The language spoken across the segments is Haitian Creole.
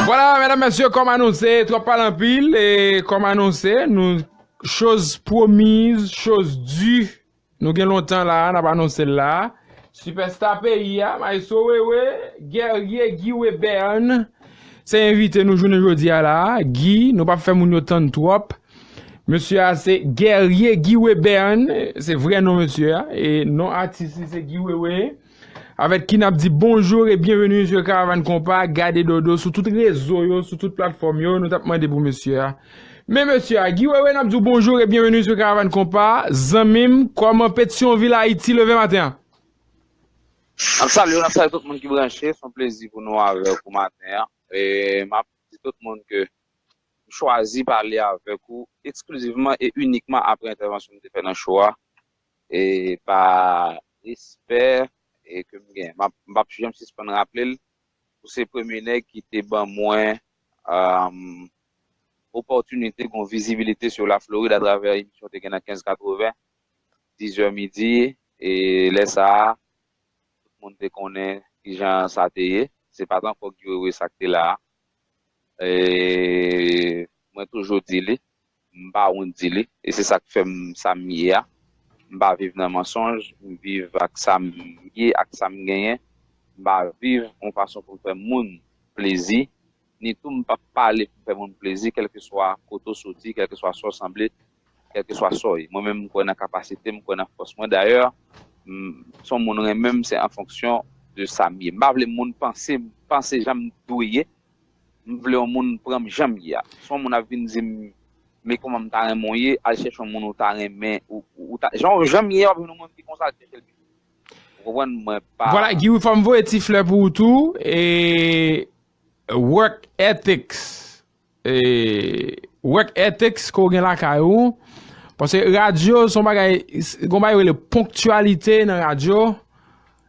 Vwala mèdam mèsyè kòm anonse twòp pale anpil e kòm anonse nou choz pwomiz choz di nou gen lontan la nap anonse l la. Sipèsta peyi a maestro Wewe Guerrier Guy Webern se envite nou jounen jodi a la Guy nou pap fè moun yo tann twòp Mesye a se Guerrier Guy Webern, se vrè non mesye a, e non atis li se Guy Wewe. Avèk ki nap di bonjour e bienvenue sur Caravane Kompa, gade dodo sou tout rezo yo, sou tout platfòm yo, nou tap mande pou mesye a. Men mesye a, Guy Wewe nap di w bonjour e bienvenue sur Caravane Kompa, zanmi m, kòman Petyonvil Ayiti leve maten an? Nap salye w, nap salye tout moun ki branche, son plezi pou nou avèk ou maten an, e map di tout moun ke M chwazi pale avèk ou eksklizivman e inikman apre entèvansyon m te fè nan show a e pa respè ke m gen m pap janm sispann raple l ou se premye nèg ki te ban mwen opòtinite gon vizibilite sou la Florid atravè emisyon w te gen nan 15 80 10 zè midi e lè sa a tout moun te konnen kijan sa te ye se pat ankò Guy Wewe sa k te la a Mwen toujou di li, m pa wont di li, e se sa k fè m sa m ye a. M pa viv nan mansonj, m viv ak sa m ye, ak sa m genyen. M pa viv yon fason pou m fè moun plezi, ni tou m pap pale pou m fè moun plezi, kèlkeswa kote w soti, kèlkeswa sa w sanble, Kèlkeswa sa w ye. Mwen menm m kwè nan kapasite m, m kwè nan fòs mwen. Dayè, m si yon moun renmen m se an fonksyon de sa m ye. M pa vle moun panse m panse jan m dwe ye. M vle yon moun pran m jan m ye a. Si yon moun ap vin di m men kòman m ta renmen w ye, al chèche yon moun ou ta renmen ou ta jan w jan m ye a w ap jwenn yon moun ki konsa al chèche l pi vit. Ou konprann? Mwen pa. Vwala Guy Wi fò m voye ti flè pou ou tou e work ethics. Wèk ètex ke w gen lakay ou, paske radyo son bagay, gon bagay yo rele ponktyalite nan radyo,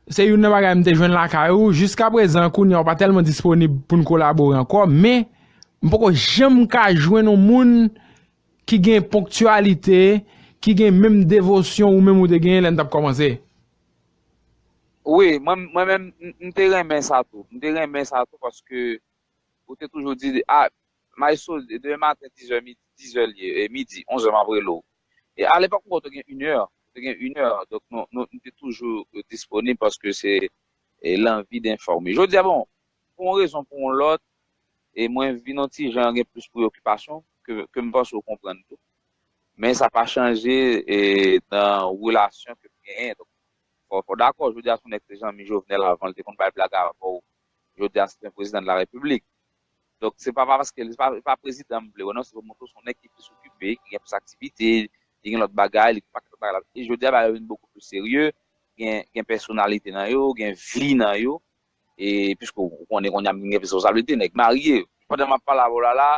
se youn nan bagay m te jwenn lakay ou, jiska prezan kounye a ou pa tèlman disponib pou n kolabore ankò, men m poko janm ka jwenn yon moun ki gen ponktyalite, ki gen menm devosyon ou menm ou te genyen lè n t ap kòmanse. Wi, mwen menm m te renmen sa tou, m te renmen sa tou paske Ou te toujou di, ah, Maestro, demen maten dizè midi, dizè l ye, midi, onzè m ap rele w. E a lepòk m kwè w te gen inè, ou te gen inè. Donk nou, nou te toujou disponib paske se lanvi denfòme. Jodi a, bon, pou yon rezon, pou yon lòt, e mwen vin yon ti jan gen plis preyokipasyon ke, ke m panse w konprann tou. Men sa pa chanje nan relasyon ke m genyen. Donk fò, fò w dakò, jodi a se yon nèg te zanmi Jovenel avan l te konn bay blag avè w. jodi a se yon prezidan de la repiblik donk se pa paske li pa prezidan m vle wè non se pou montre w se yon nèg ki plis okipe ki gen plis aktivite li gen lòt bagay li gen pakèt lòt bagay e jodi a bagay yo vin bokou plis serye gen pèsonalite nan yo gen vi nan yo e piske w konnen kounye a m vin gen plis responsablite nèg marye pandan m ap pale avè w la la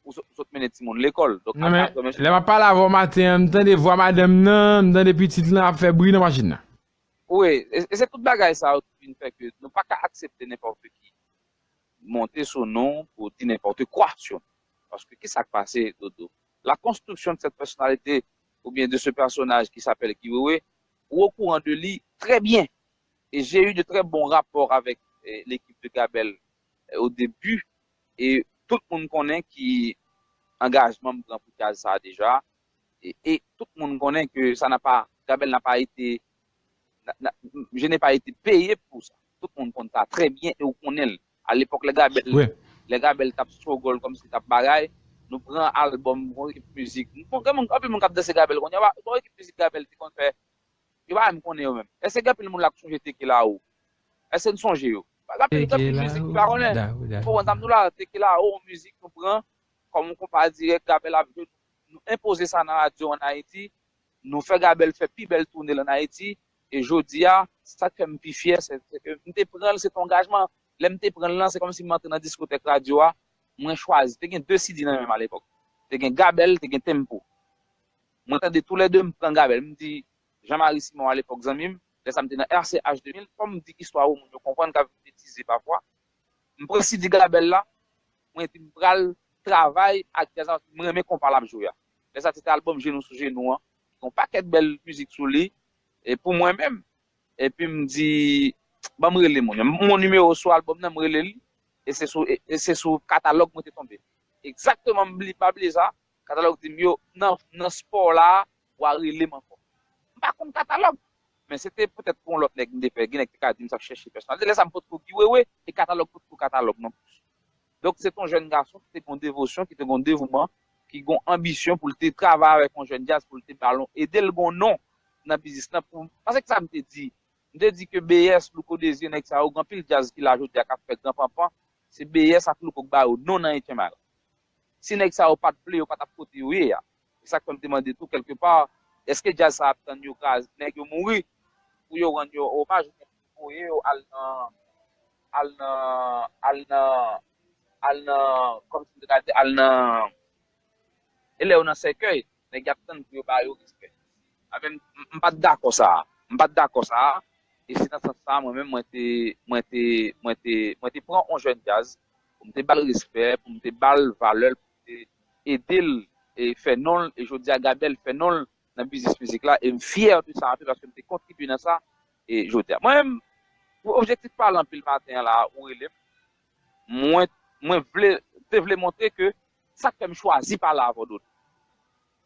ou sot mennen timoun lekòl donk aprè mesye. Lè m ap pale avè w maten an m tande vwa madanm nan m tande pitit lan ap fè bri nan machin nan. Wi, e se tout bagay sa yo ki vin fè ke nou pa ka aksepte nenpòte ki monte sou nou pou di nenpòte kwa sou nou. Paske ki sa k pase, Dodo? La construction de cette personnalité ou bien de ce personnage qui s'appelle Guy Wewe, ou au courant de li très bien. Et j'ai eu de très bons rapports avec l'équipe de Gabel au début et tout moun konnen ki angajman m pran pou djaz sa a deja. e tout moun konnen ke sa na pa, Gabel na pa ete, je n'ai pas ete peye pou sa. Tout moun konn sa trè byen e ou konnen l. A lepòk lè Gabel, lè Gabel tap struggle kòm si tap bagay, nou pran albòm yon ekip mizik, bon gen moun, anpil moun kap danse Gabel kounye a, yon ekip mizik Gabel te konn fè, yo pa menm konnen yo menm. Èske gen anpil moun la k sonje Tekelaou? Èske n sonje yo? Gen anpil, gen anpil mizik ki pa konnen. Ou konprann sa m di w la? Tekelaou yon mizik nou pran kòm yon konpa dirèk Gabel ap jwe, Nou enpoze sa nan radyo an Ayiti, nou fè Gabèl fè pi bèl toune l an Ayiti, e jodi a, sa k fè m pi fyè, sè ke m te pran l, se te yon angajman, lè m te pran l lan, se kòm si m antre nan diskotèk radyo a, mwen chwazi, te gen 2 CD nan men m alepòk, te gen Gabèl, te gen Tempo. Mwen tande tou lè 2, m pran Gabèl, m di Jean Marie Simon alepòk zanmi m, lè sa m te nan RCH 2000, fò m di istwa ou moun yo konprann, ka vin betize pafwa, m pran CD Gabèl la, Mwen di m pral travay ak djaz la paske m renmen konpa lap jwe a. Lè sa se te album Jenou sou jenou an ki gen yon pakèt bèl mizik sou li e pou mwen menm epi m di ban m rele moun yo. M gon nimewo sou album nan m rele li e se sou e se sou katalòg mwen te tonbe. Egzakteman m bli pa bliye sa katalòg di m yo nan nan spò w la wa rele m ankò. M pa konn katalòg men se te petèt pou yon lòt nèg m te fè gen nèg ki te ka di m sa k chèche pèsonalite lè sa m potko Guy Wewe e katalòg potko katalòg non plis. Donk se te yon jèn gason ki te gen yon devosyon, ki te gen yon devouman, ki gen yon anbisyon pou l te travay avèk yon jèn djaz pou l te ba l, ede l gen yon non nan biznis lan pou, paske kisa m te di? M te di ke BS, Louko Désir, nèg sa yo gen anpil djaz ki la jodi a k ap fè gran panpan, se BS ak Louko k ba yo non nan Etchenmay la. Si nèg sa yo pa t vle yo pa t ap kote yo ye a. E sa k fè m te mande tou kèlke pa, èske djaz sa ap tann yo kraz nèg yo mouri pou yo rann yo omaj oubyen pou yo voye yo al nan al nan al nan al nan kòm si m te ka di al nan e lè yo nan sèkèy nèg y ap tann pou yo ba yo respè a men m pa t dakò sa a m pa t dakò sa a e se nan sans sa a mwen menm mwen te mwen te mwen te mwen te pran on jèn djaz pou m te ba l respè pou m te ba l valè l ede l fè non l e jodi a Gabel fè non l nan biznis mizik la e m fyè de sa anpil paske m te kontribye nan sa e jodi a mwen menm pou objektif pale anpil maten an la a ou rele m mwen mwen vle te vle montre ke sa k fè m chwazi pale avè w Dodo.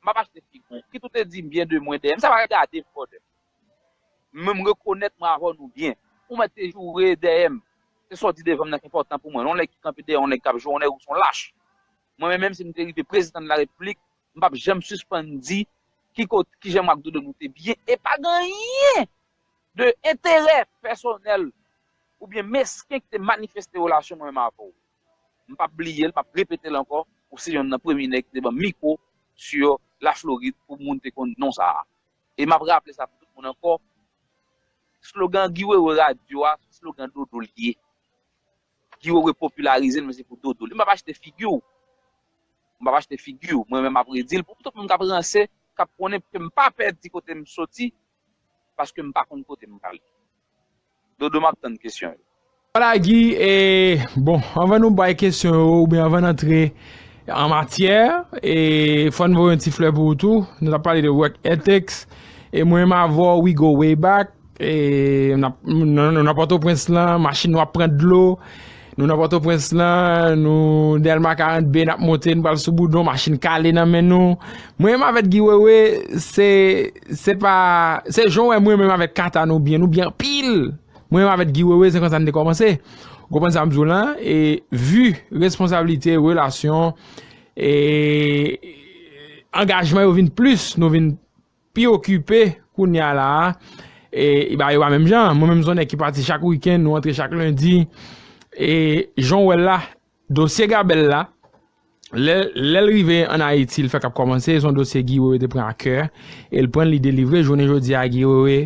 Map achte fig ou. Kit ou te dim byen de mwen dèyèm sa pa gadem fò dèm. Men m rekonèt mwen avèw nou byen. Ou mèt te joure dèyèm. Se sa w di devanm nan k enpòtan pou mwen. Yon nèg ki kanpe dèyè yon nèg kap joure yon nèg ou son lach. Mwen menm menm si m te rive prezidan de la repiblik m pap janm sispann di ki kot kijan mwen ak Dodo nou te byen e pa gen anyen de enterè pèsonèl oubyen mesken ki te manifeste relasyon mwen menm avèw. M pap bliye l, m ap repete l ankò, ou se yonn nan premye nèg ki te ban m mikwo sur la Floride pou moun te konn non sa a. E m ap raple sa pou tout moun ankò, slogan Guy Wewe radyo a, se slogan Dodo li ye. Guy Wewe popilarize l men se pou Dodo li ye. M pap achte figi w, m pap achte figi w, mwen menm m ap redi l pou tout moun k ap ranse, k ap konnen, paske m pa pè di kote m soti, paske m pa konn kote m prale dodo map tann kesyon yo. Wala Guy e bon anvan nou bay kesyon yo oubyen anvan n antre an matyè e fò n voye yon ti flè pou ou tou nou tap pale de work ethics e mwen menm avè w we go way back e nan nan pòtoprens lan machin nou ap pran dlo Nou nan Pòtoprens la, nou Dèlma 42 nap monte, nou pral sou boudon, machin kale nan men nou. Mwen menm avèk Guy Wewe, se, se pa, se jan w wè mwen menm avèk Cata nou byen, nou byen anpil! Mwen menm avèk Guy Wewe se konsa n te kòmanse. Ou konprann sa m di w la? E vi, responsablite, relasyon, e angajman yo vin plis, nou vin. pi okipe kounya la a e ba yo pa menm jan mwen menm son nèg ki pati chak wikenn nou antre chak lendi e jan w wè l la dosye gabèl la lè lè l rive an ayiti l fèk ap kòmanse son dosye Guy Wewe te pran a kè e l pran l li delivre jounen jodi a Guy Wewe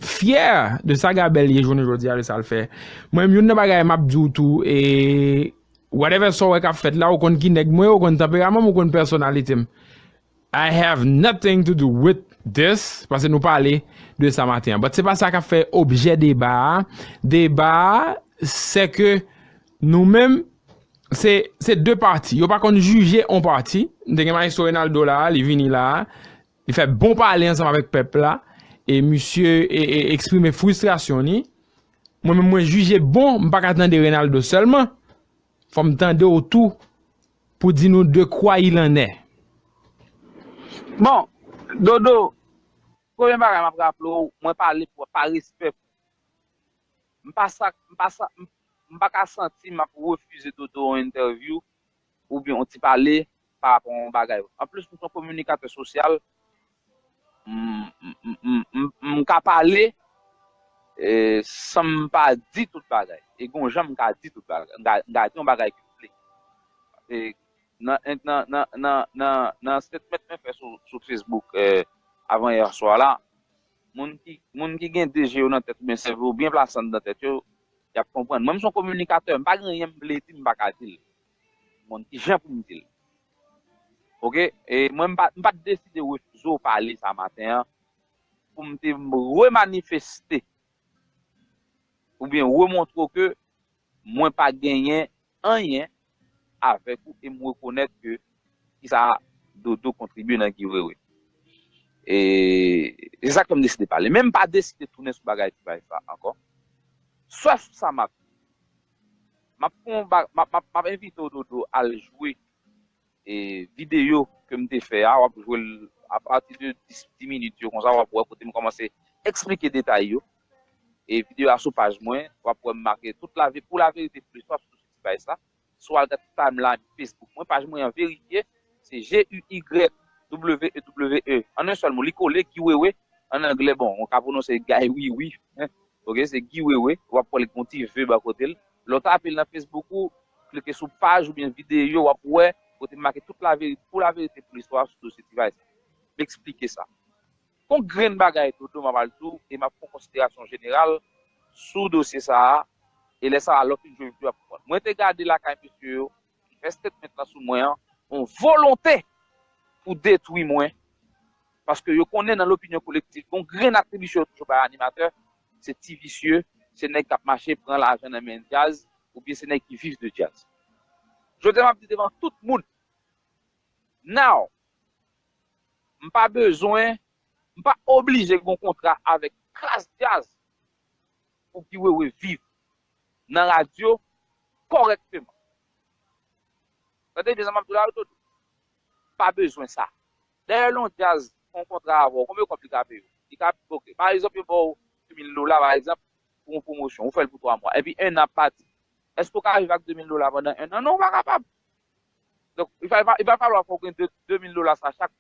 fyè de sa gabèl ye jounen jodi a de sa l fè mwen menm youn nan bagay m ap di w tou e whatever sa w wè k ap fèt la ou konn ki nèg mwen ou konn tanperaman m ou konn pèsonalite m. I have nothing to do with this paske nou pale de sa maten an but se pa sa kap fè objè deba a, deba a se ke nou menm se se 2 pati yo pa konn jije on pati, m te gen Maestro Renaldo la a li vini la a li fè bon pale ansanm avèk pèp la e misye eksprime fristrasyon ni mwen menm mwen jije bon m pa ka tande Renaldo sèlman. Fòm tande w tou pou di nou de kwa il en est. Bon Dodo premye bagay map raple w mwen pale pou pa respè pou ou. M pa sa m pa sa m pa ka santi m ap refize Dodo yon entèvyou oubyen yon ti pale pa rapò yon bagay. Anplis m s yon kominikatè sosyal, m ka pale san m pa di tout bagay. E gen yon jan m ka di tout bagay, m ka di yon bagay ke m vle. Nan statement mwen fè sou Facebook avan yè swa la, moun ki gen 2 je yo nan tèt oubyen sèvo yo byen plase anndan tèt yo, y ap konprann. Mwen m s yon kominikatè, m pa gen anyen m vle di m pa ka di l. Mkonn kijan poum dil. Ok e mwen mpat deside refize w pale sa maten an poum te remanifeste oubyen remontre w ke mwen pa genyen anyen avèk ou e mrekonèt ke kisa Dodo kontribye nan Guy Wewe. E se sak fèm deside pale. Men mpa deside tounen sou bagay T-Vice la ankò. Sèf sa map di Map fè yon ba map map map envite w dodo al jwe e video kem te fè a wap jwel a pati de 10 10 minit yo konsa wap wè kotem kòmanse eksplike detay yo e video a sou paj mwen wap wèm make tout la pou la verite plis wap sou ti paj sa sou al gad timeline Facebook mwen paj mwen an verifye se GUYWEWE an un sèl mo li kole Guy Wewe an anglè bon ou ka pwononse Guy Wiwi Ok se Guy Wewe, wap wèl gen yon ti vue bò kotel, lè w tapel nan Facebook ou, klike sou paj oubyen videyo wap wè kote m make tout laverite pou laverite pou listwa sou dosye T-Vice la. M eksplike sa. Gon grenn bagay Dodo map al di w e map fon konsiderasyon jeneral sou dosye sa a e lè sa a lè w fin jwenn vue a pou konprann. Mwen te gade lakay mesye yo Fè statement lan sou mwen an. Yon volonte pou detwi mwen, paske yo konnen nan lopinyon kolektif gon grenn atribisyon yo toujou bay animatè, se ti visye, se nèg k ap mache pran lajan nan men djaz oubyen se nèg ki viv de djaz. Jodi a m ap di devan tout moun, now, m pa bezwen, m pa oblije gen yon kontra avèk klas djaz pou Guy Wewe viv. nan radyo kòrèkteman. Tande byen sa m ap di w la Dodo. Pa bezwen sa. Dayè lè yon djaz fè yon kontra avè w, konbyen kòb li ka peye w? Li ka, ok, pa egzanp yo ba w 2000 dola pa egzanp pou yon pwomosyon, ou fè l pou 3 mwa, epi 1 an ap pati. Èske ou ka viv ak 2000 dola pandan 1 an? Non ou pa kapab. Donk, li va, li va falwa fò w gen 2, 2000 dola sa chak,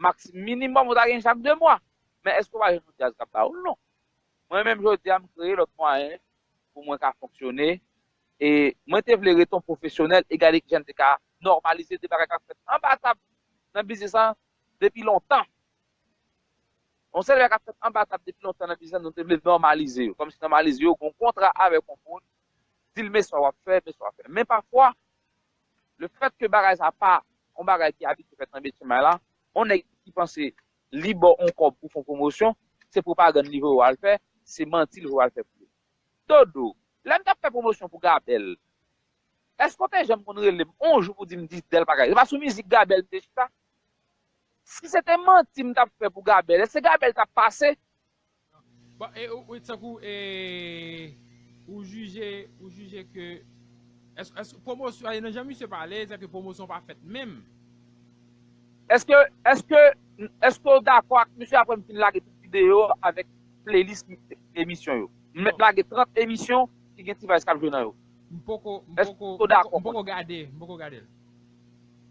maksi, minimòm ou ta gen chak 2 mwa. Men èske w va jwenn yon djaz k ap ba w l? Non. Mwen menm jodi a m kreye lòt mwayen pou mwen ka fonksyone e mwen te vle ret on pwofesyonèl e gade kijan m te ka nòmalize de bagay k ap fèt anba tab nan biznis lan depi lontan. On seri de bagay k ap fèt anba tab depi lontan nan biznis lan nou te vle nòmalize yo kòmsi nòmalize yo gon kontra avèk on moun di l men sa w ap fè men sa w ap fè men pafwa lefèt ke bagay sa pa on bagay ki abitye fèt nan Mechenmay la on nèg ki panse Li baw on kob ou fon promosyon, se propagann li vwe wal fè, se manti li vwe wal fè pou yo. Dodo, lèm tap fè promosyon pou Gabel, eske w te janm konn relem on jou pou dim Disdel pa ka, se pa sou mizik Gabel m te chita? Si se te manti m tap fè pou Gabel, eske Gabel tap pase? Tankou ou jije ou jije ke nan jan misye pale se ke pwomosyon pa fèt menm. Eske ou dakò ak misye apre m fin lage tout videyo yo avèk playlist emisyon yo? M mèt lage 30 emisyon ki gen T-vice k ap jwe nan yo. M poko gade l.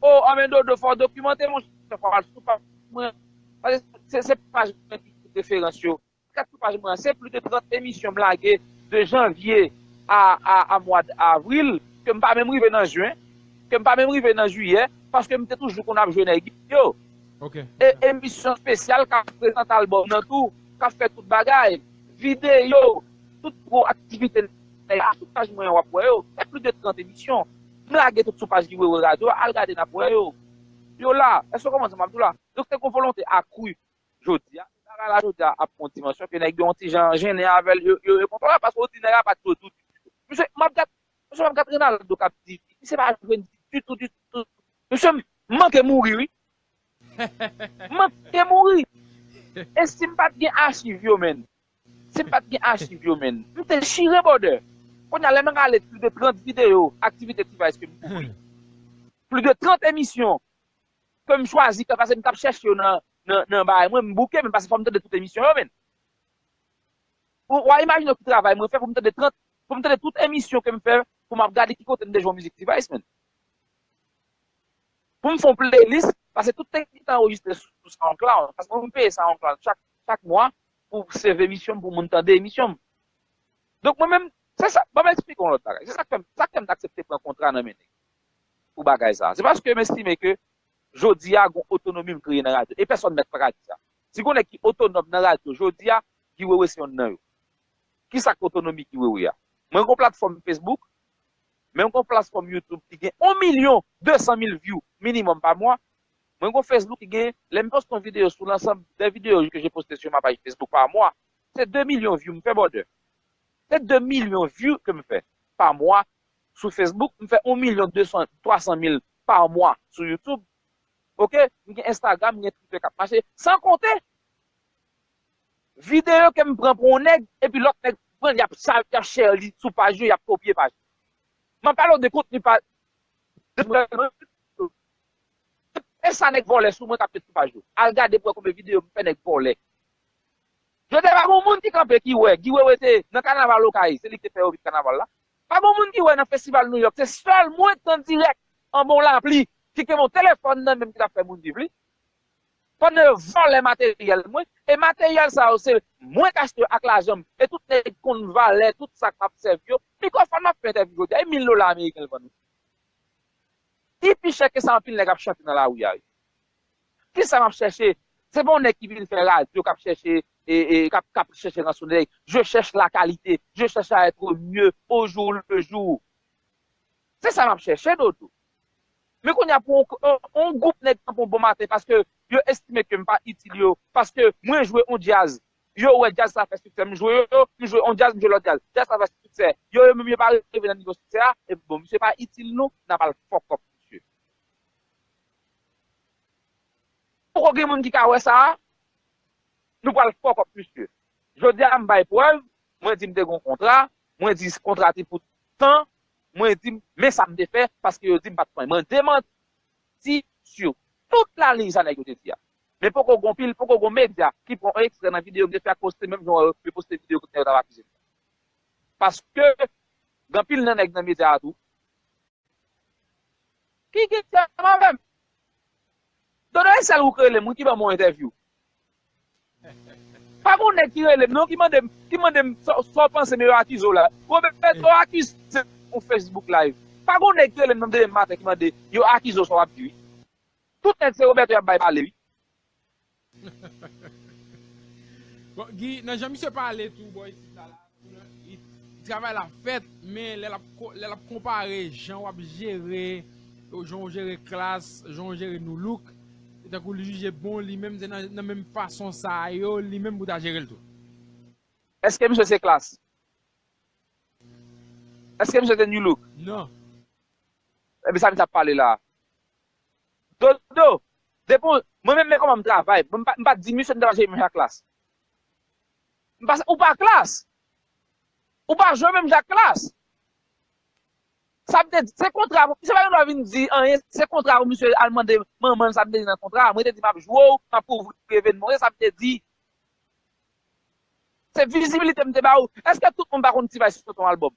O! Anben Dodo fò w dokimante monchè fò w al sou paj mwen. Paske se paj mwen ki tout referans yo. Gad sou paj mwen an, se plis de 30 emisyon m lage de janvye a mwad avril, ke m pa menm rive nan jen, ke m pa menm rive nan jiyè, paske m te toujou konn ap jwe nèg yo. E emisyon spesyal k ap prezante albòm nan tou, k ap fè tout bagay, videyo, tout gwo aktivite nèg la, sou paj mwen an w ap wè yo. Se plis de 30 emisyon. M lage tout sou paj Guy Wewe Radio a, al gade n ap wè yo. Yo la. Èske w konprann sa m ap di w la? Donk se kon volonte akru jodi a, bagay la jodi a ap pran yon dimansyon ke nèg yo yon ti jan jennen avèl, yo rekontre avèl paske yo di nèg a pat jwe ditou. Mesye, map gad, mesye map gad Renaldo kap di, misye pa jwe ditou ditou. Mesye, m manke mouri wi. M manke mouri. E si m pat gen achiv yo menn? Si m pat gen achiv yo menn? M te chire bòdè. Kounya lè m rale plis de 30 videyo aktivite T-Vice ke m kouvri, plis de 30 emisyon ke m chwazi fè pase m tap chèche yo nan nan bagay mwen m bouke men pase fòm tande tout emisyon yo menn wa imajine w ki travay mwen fè pou m tande 30 pou m tande tout emisyon ke m fè pou map gade ki kote m te jwenn mizik T-vice menn pou m fon playlist pase tout tèks ki te anrejistre sou soundcloud paske mwen m peye soundcloud chak chak mwa pou save emisyon m pou moun tande emisyon m donk mwen menm se sa banm esplike w yon lòt bagay se sak fèm sak fèm t aksepte pran kontra nan men nèg pou bagay sa a. Se paske m estime ke jodi a gon otonomi m kreye nan radyo. E pèsòn mèt pa ka di sa. Si gon nèg ki otonòm nan radyo jodi a, Guy Wewe se yonn nan yo. Ki sa k otonomi Guy Wewe a? Mwen gon platfòm Facebook, men m gon platfòm YouTube ki gen on milyon de san mil vyou minimòm pa mwa. Mwen gon Facebook ki gen, lè m poste yon videyo sou lansanm dè videyo ke je poste su ma paj Facebook pa mwa, se de milyon vyou m fè brother. Se de milyon vyou ke m fè pa mwa sou Facebook, m fè 1 milyon 200, 300 mil pa mwa sou YouTube ok, m gen Instagram, m gen Twitter k ap mache, san konte videyo ke m pran pou yon nèg epi lòt nèg pran l y ap sa, y ap share li sou paj yo, y ap kopye paj yo. M ap pale w de kontni pa e sa nèg vòlè sou mwen k ap met sou paj yo. Al gade pou w wè konbyen videyo m fè nèg vòlè. Yo te pa gen yon moun ki kanpe ki wè Guy Wewe te nan kanaval Okay, se li ki te fè yo vin kanaval la, Pa gon moun ki wè nan festival New York se sèl mwen k t an dirèk anba yon lapli ki te gen yon telefòn nan menm ki t ap fè moun viv li pandan yo vòlè materyèl mwen e materyèl sa yo se mwen k achte yo ak lajan m e tout nèg konn valè tout sa k ap sèvi yo mikrofòn m ap fè entèvyou jodi a e mil dola ameriken l vann li pi chè ke sa anpil nèg ap chante nan lari a yo. Kisa map chèche? Se pa yon nèg ki vin fè radyo kap chèche kap chèche ransonèy. Je chèche la kalite, je chèche a etre mye o jou le jou. Se sa map chèche dodo. Men kounye a pou yon gwoup nèg tankou w bon maten paske yo estime ke m pa itil yo, paske mwen jwe yon djaz, yo wè djaz sa fè siksè, m jwe yo, m jwe yon djaz, m jwe lòt djaz, djaz sa fè siksè, yo yo menm yo pa rive nan nivo siksè a, e bon misye pa itil nou, nap al fòkòp misye. Poko gen moun ki ka wè sa a? Nou pral fuck up misye. Jodi a m bay prèv, mwen di m te gen yon kontra, mwen di kontra te pou tan, mwen di men sa m te fè paske yo di m pa t pran. Mwen demanti sou tout la liy sa nèg yo te di a. Men poko gen yon pil, poko gen yon medya ki pran yon ekstrè nan videyo m te fè ak poste menm jan yo poste videyo kote nèg yo t ap akize m nan. Paske gen anpil nan nèg nan medya a tou. Ki gen djab avèm? Dodo e sèl ou k relem wi ki banm yon entèvyou. Pa gon nèg ki relem non ki mandem ki mandem sa w panse men yo akize w la. Roberto akizem pou Facebook live. Pa gon nèg ki relem nan demen maten ki mande yo akize w sa w ap di wi. Tout nèg se Roberto y ap bay pale wi. Bon Guy nan jan misye pale tou bò isit la travay la fèt men lè lap konpare jan wap jere jan ou jere klass jan ou jere nu look se tankou li jije bon li menm se nan menm fason sa yo li menm pou ta jerel tou. Eske misye se klass? Eske misye se nu look? Non. Ebyen sa misye ap pale la? Dodo, depi mwen menm men kòman m travay, m pa di misye m ta jwe menm jan ak Klass. Pase ou pa Klass. Ou pa jwe menm jan ak Klass. Sa vle di, se kontra, misye pa gen dwa vin di anyen, se kontra pou misye al mande manman l sa vle di nan kontra a. Mwen te di m ap jwe w, m ap kouvri evènman w, se sa m te di. Se vizibilite m te ba ou. Eske tout moun pa konn T-vice sot yon albòm?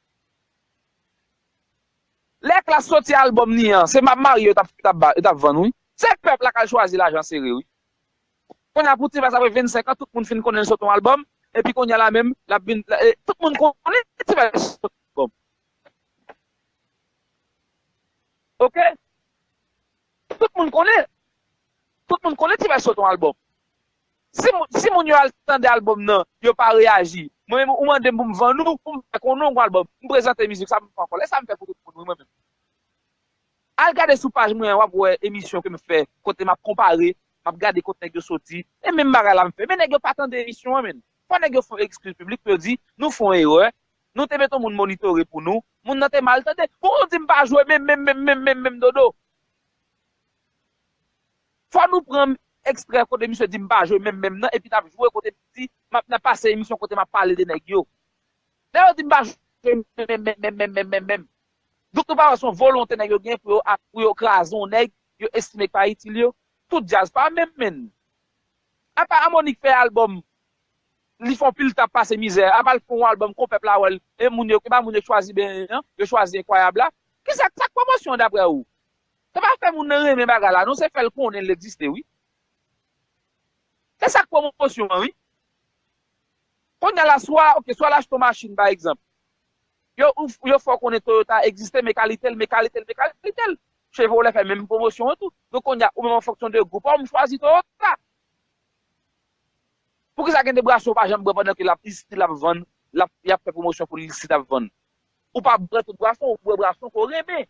Lè klass soti album ni an se map marye yo tap vann wi se pèp la kal chwazi lajan sere wi konnya pou ti vas apre 25 ans tout moun fin konnen l sot yon album epi konnya la menm lap vin tout moun konnen ti vas sot yon album ok tout moun konnen tout moun konnen ti vas sot yon album. Si moun yo al tande album nan, yo pa reyaji. Mwen menm ou mandem poum vann ou, poum fè konnen ou gon album. M prezante mizik sa, m pa kole sa m fè pou tout moun wi mwen menm. Al gade sou paj mwen an wap wè emisyon kem fè kote map konpare, map gade kot nèg yo soti, e menm bagay la m fè. Men nèg yo pa tande emisyon an menn. Fò nèg yo fè yon ekskiz piblik pou yo di, nou fè yon erè, nou te mete yon moun monitore pou nou, moun nan te mal tande. Pou ou di m pa jwe menm menm menm menm menm menm dodo. Fò nou pran extrè kote misye di mpa jwe menm menm nan epi nap jwe kote li di map nan pase emisyon kote map pale de nèg yo. Lè yo di mpa jwe menm menm menm menm menm menm menm. Donk nou pa wè son volonte nèg yo gen pou yo kraze yon nèg yo estime ki pa itil yo. Tout djaz pa menm menn. Apa Amonik fè album li fon pil tan ap pase mizè apa l fon yon album kon pèp la wèl e moun yo epa moun yo chwazi benyen an yo chwazi enkwayab la. Kisa sak pwomosyon dapre ou? Se pa fè moun nan renmen bagay la non se fèl konnen l egziste wi. Se sak pwomosyon an wi. Konnya la swa ok swa lachte yon machin pa egzanp yo fè w konnen Toyota egziste men kalite l men kalite l men kalite l. Chevrolet fè menm pwomosyon an tou. Donk konnya ou menm an fonksyon de gou pa w m chwazi Toyota. Poukisa gen de bwason ou pa janm bwè pandan ke lap isit lap vann lap yap fè pwomosyon pou l isit ap vann. Ou pa bwè tout bwason ou bwè bwason ke w renmen.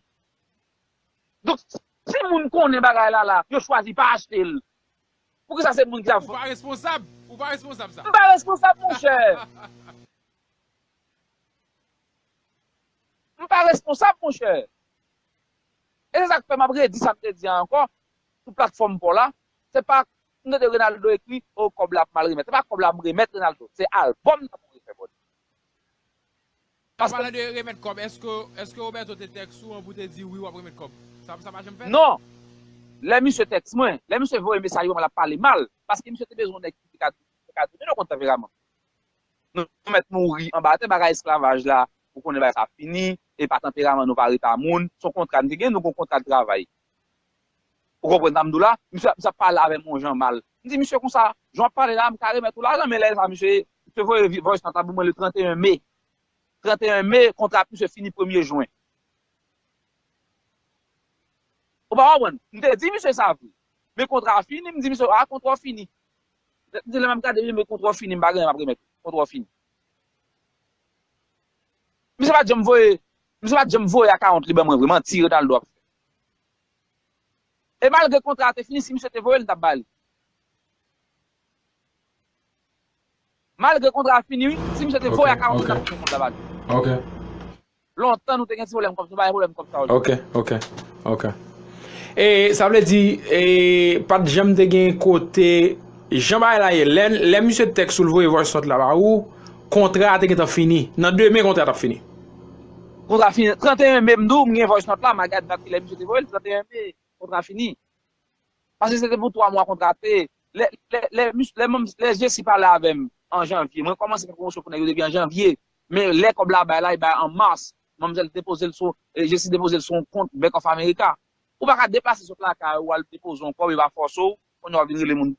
Donk si moun konnen bagay la la, yo chwazi pa achte l. Poukisa se moun ki ap. Ou pa responsab, ou pa responsab sa. M pa responsab monchè. M pa responsab monchè. E se sa k fè m ap redi sa m te di a ankò sou platfòm paw la, se pa, m tande Renaldo ekri, oh kòb la ap mal remèt. Se pa kòb la m remèt Renaldo, se albòm nan pou refè bòt. An palan de remèt kòb eske Roberto te tèks ou an pou te diw wi wap remèt kòb? Sa pa janm fèt? Non! Lè misye tèks mwen, lè misye voye mesaj ba mwen lap pale mal paske misye te bezwen yon nèg ki te ka donnen nou kont tanperaman. Nou mèt mouri anba tè bagay esklavaj la ou konnen bagay sa fini epa tanperaman nou pa reta moun son kontra nou te gen nou gon kontra travay Ou konprann sa m di w la? Misye ap pale avè m yon jan mal. M di misye konsa, jan w ap pale la, m ka remèt ou lajan, men lè sa misye voye voice note la pou mwen le 31 me. 31 me, kontra ak misye fini premye jwen. Ou pa konprann? M te di misye sa vre. Men kontra a fini, m di misye, a kontra w fini. M di lè m ap gade li, men kontra w fini, m pa gen anyen m ap remèt ou. Kontra w fini. Misye pa t janm voye, misye pa t janm voye akawont li ban mwen vre, manti Renaldo ap fè. E malgre kontra a te fini si misye te voye l m tap bali. Malgre kontra a fini wi si misye te voye a 40 mil tap tounen kont la bali. Ok. Lontan nou te gen ti pwoblèm kòb nou pa gen pwoblèm kòb sa yo. Ok ok ok e sa vle di e pat janm te gen kote jan bagay la ye lè misye tèks ou l voye voice note la ba ou kontra a te gentan fini nan demen kontra a tap fini. Kontra fini 31 me m di w m gen voice note la ma gad dat kilè misye te voye l 31 me kontra fini paske se te pou 3 mwa kontra a te lè Jessie pale avè m an janvye mwen kòmanse fè pwomosyon pou nèg yo depi an janvye men lè kòb la bay la li bay an mars manmzèl depoze l sou Jessie depoze l sou yon kont bank of america ou pa ka deplase sot lakay ou al depoze yon kòb yo pa fòse w Kounye a wap vin rele moun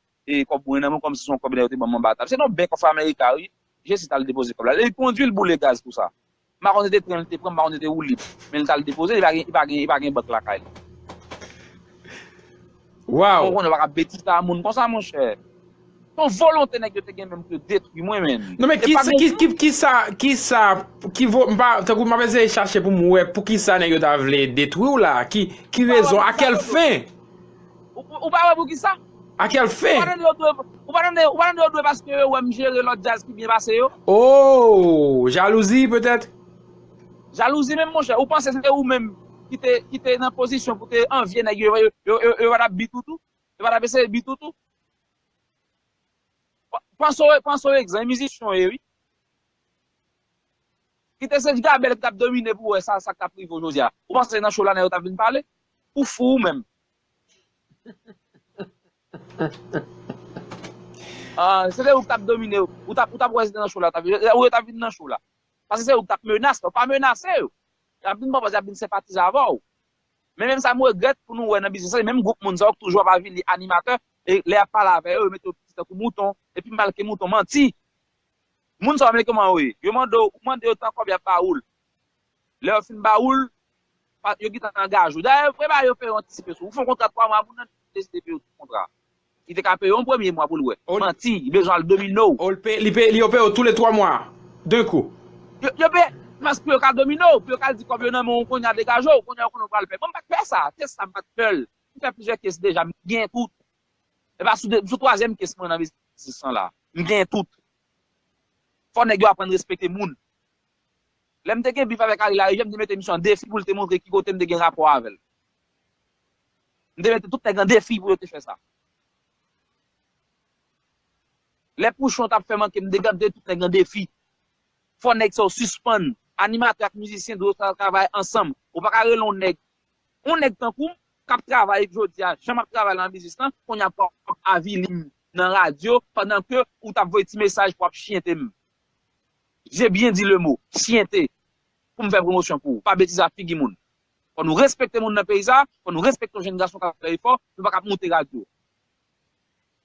kòb mwen nan men kòmsi se yon kòb nèg yo te banm anba tab. Se nan Bank of America wi Jesse tal depoze kòb la. Li kondwi li boule gaz pou sa. M pa konn se te tren li te pran, m pa konn se te woulib. Men li tal depoze li pa gen li pa gen bank lakay li. Waw! Kounye a wap ka betize a moun konsa monchè. Se yon volonte nèg yo te gen menm pou yo detwi mwen menn. Non men kisa kisa ki vo m pa tankou map eseye chache pou m wè poukisa nèg yo ta vle detwiw la ki rezon a kèl fen? Ou pa wè poukisa? A quelle Ou pa fin? tande yo dwe Ou pa tande Ou pa tande yo dwe paske yo wèm jere lòt djaz ki byen pase yo? Oh! Jalouzi petèt? Jalouzi menm monchè? Ou panse se ou menm ki te ki te nan pozisyon pou te anvye nèg yo yo yo yo pa tap beat ou tou? Yo pa tap eseye beat ou tou? Panse w panse w egzan e mizisyen w ye wi. Ki te se Jgabel ki tap domine pou wè sa sa k tap rive w jodi a. Ou panse se nan show la nèg yo tap vin pale? Ou fou ou menm. Ahh se te ou ki tap domine yo ou tap ou tap wè se te nan show la ou tap vin ou yo tap vin nan show la paske se ou ki tap menas yo pa menase yo yap vin paw paske yap vin senpatize avèw men menm sa m regrèt pou nou wè nan biznis sa se menm gwoup moun sa yo ki toujou ap avili animatè e lè yap pale avè yo yo mete yo piti tankou mouton epi mal ke mouton manti moun sa yo menm kòman yo ye yo mande w ou mande yo tan kòb yap ba ou l. Lè yo fin ba ou l, yo gentan angaje ou. Dayè, yo prepare yo fè yo antisipe sou ou. Ou fè yon kontra 3 mwa, moun nan deside peye ou tout kontra a. Li te ka peye w yon premye mwa pou l wè. Manti, li bezwen al domine w. Yo peye w tou le 3 mwa a, d'un kou. Yo peye, paske pou yo ka domine w, pou yo ka di kòb yo nan men w kounya degaje w, kounya yo konnen w pral pè. Bon, m pa t pè sa, tès sa m pa t pè l. M fè plizyè kes deja, m gen tout. E pa sou 2, m sou twazyèm kes mwen nan biznis lan la. M gen tout. Fò nèg yo aprann respekte moun. Lè m te gen bif avèk Ari Larivière, m te mete misye an defi pou l te montre ki kote m te gen rapò avè l. M te mete tout nèg an defi pou yo te fè sa. Lè Pouchon t ap fè manke m te mete tout nèg an defi. Fò nèg sa yo sispann. Animatè ak mizisyen dwe travay ansanm. Ou pa ka rele yon nèg. Yon nèg tankou m k ap travay jodi a jan m ap travay nan biznis lan, kounye a pou w ap avili m nan radyo pandan ke ou t ap voye ti mesaj pou w ap chiyente m. J'ai bien dit le mot, syente, pou m fè pwomosyon pou ou, pa betize ak figi moun. Fò nou respekte moun nan peyi sa a, fò nou respekte yon jenn gason k ap fè efò, nou pa k ap moute radyo.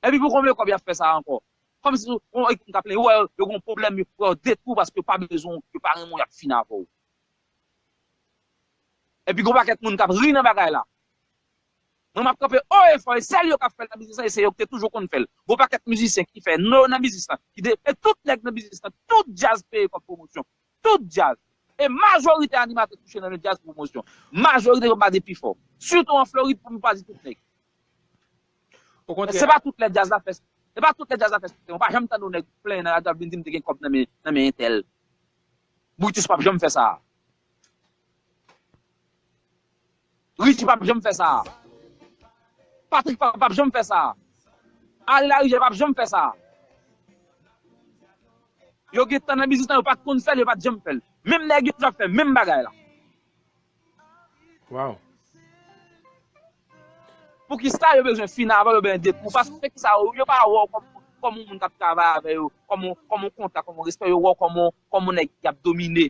Epi pou konbyen kòb y ap fè sa a ankò? Kòm si ou gen moun k ap plenyen, ou wè yo, yo gen yon pwoblèm, yo wè yo detwi w paske yo pa bezwen w, yo pa renmen w, y ap fini avè w. Epi gen yon pakèt moun k ap ri nan bagay la. Mwen map kanpe o e fò e sèl yo kap fè nan biznis lan e se yo ki te toujou konn fèl. Gon pakèt mizisyen ki fè non yo nan biznis lan ki de e tout nèg nan biznis lan tout djaz peye kòb pwomosyon. Tout djaz. E majorite animatè touche nan men djaz pou pwomosyon. Majorite yo pa di pi fò. Sitou an Florid pou nou pa di tout nèg. Men se pa tout lè djaz la fè se pa tout lè djaz la fè siksè. Ou pa janm tande yon nèg plenyen nan radyo ap vin di m te gen kòb nan men entèl. Brutus pap janm fè sa a. Richie pap janm fè sa a. Patrick pa pap janm fè sa a. Harry Larigel pap janm fè sa a. Yo gen tan nan biznis lan yo pat konn fèl yo pat janm fèl. Menm nèg yo ap fè menm bagay la. Waww. Poukisa yo bezwen fini avan yo benyen dekou paske kisa yo pa wè w kòm yon moun kap travay avè yo kòm yon kontak kòm yon respè yo wè w kòm yon nèg kap domine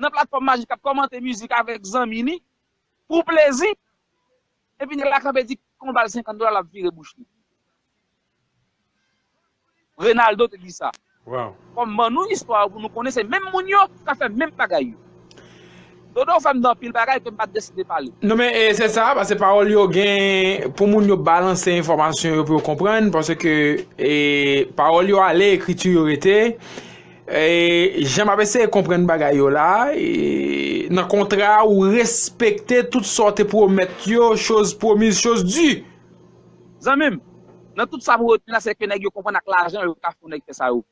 nan platfòm majik ap kòmante mizik avèk zanmi li pou plezi epi nèg la kanpe di kon bal 50 dola lap vire bouch li. Renaldo te di sa. Fòm ban nou istwa yo pou nou konnen se menm moun yo kap fè menm bagay yo. Dodo ou fèm di anpil bagay kem pat deside pale. Non men e se sa pase pawòl yo gen pou moun yo balanse enfòmasyon yo pou yo konprann paske e pawòl yo ale ekriti yo rete. Jan map eseye konprann bagay yo la, nan kontra a ou respekte tout sa w te pwomèt yo, chose promise chose due. Zanmi m, nan tout sa mwen retni la sèke nèg yo konprann ak lajan yo ka fè nèg fè sa yo vle.